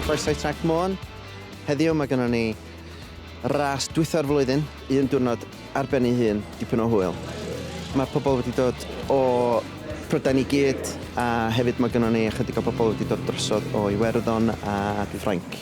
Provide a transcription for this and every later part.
Croeso i Trac Môn. Heddiw mae gennym ni ras dwytho'r flwyddyn, un diwrnod ar ben ei hun, dipyn o hwyl. Mae pobl wedi dod o Prydain i gyd, a hefyd mae gennym ni ychydig o bobl wedi dod drosodd o Iwerddon a Ffrainc.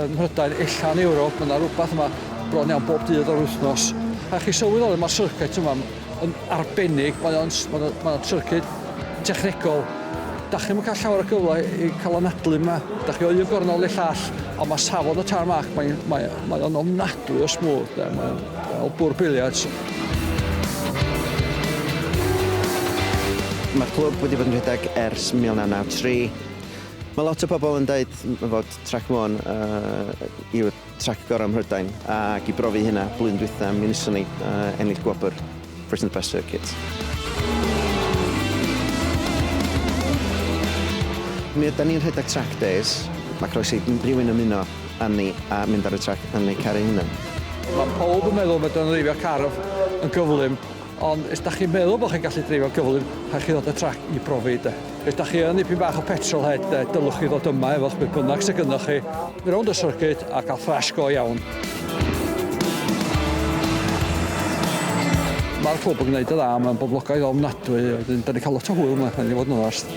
Ym Mhrydain, ella yn Ewrop, mae yna rhywbeth yma bron iawn bob dydd o'r wythnos. A chi sylweddoli, mae'r syrcet yma yn arbennig, mae o'n mae o'n, mae o'n syrcet technegol. Da chi'm yn cael llawer o gyfle i cael anadlu yma. Da chi o un gornel i'r llall, ond mae safon y tarmac, mae'n mae, mae o'n ofnadwy o smooth, de. mae'n fel bwr biliards. Mae'r clwb wedi bod yn rhedeg ers 1993. Mae lot o pobl yn dweud fod Trac Môn yw'r trac gorau ym Mhrydain ac i brofi hynna blwyddyn dwytha mi wnaethon ni ennill gwobr Britain's Best Circuit. Mi ydan ni'n rhedeg trac days, mae croeso i rywun ymuno â ni a mynd ar y trac yn eu car eu hunain. Mae pawb yn meddwl fod dreifio car yn gyflym. Ond os da chi'n meddwl bod chi'n gallu dreifio'n gyflym, rhaid chi ddod â trac i brofi de. Os da chi yn ddipyn bach o petrol head de, dylwch chi ddod yma efo'ch beth bynnag sydd gynnwch chi, rownd y syrcyd a cael thrash go iawn. Mae'r clwb yn gwneud yn dda, mae'n boblogaidd ofnadwy, wedyn da ni'n cael lot o hwyl yma, rhaid i fod yn onast.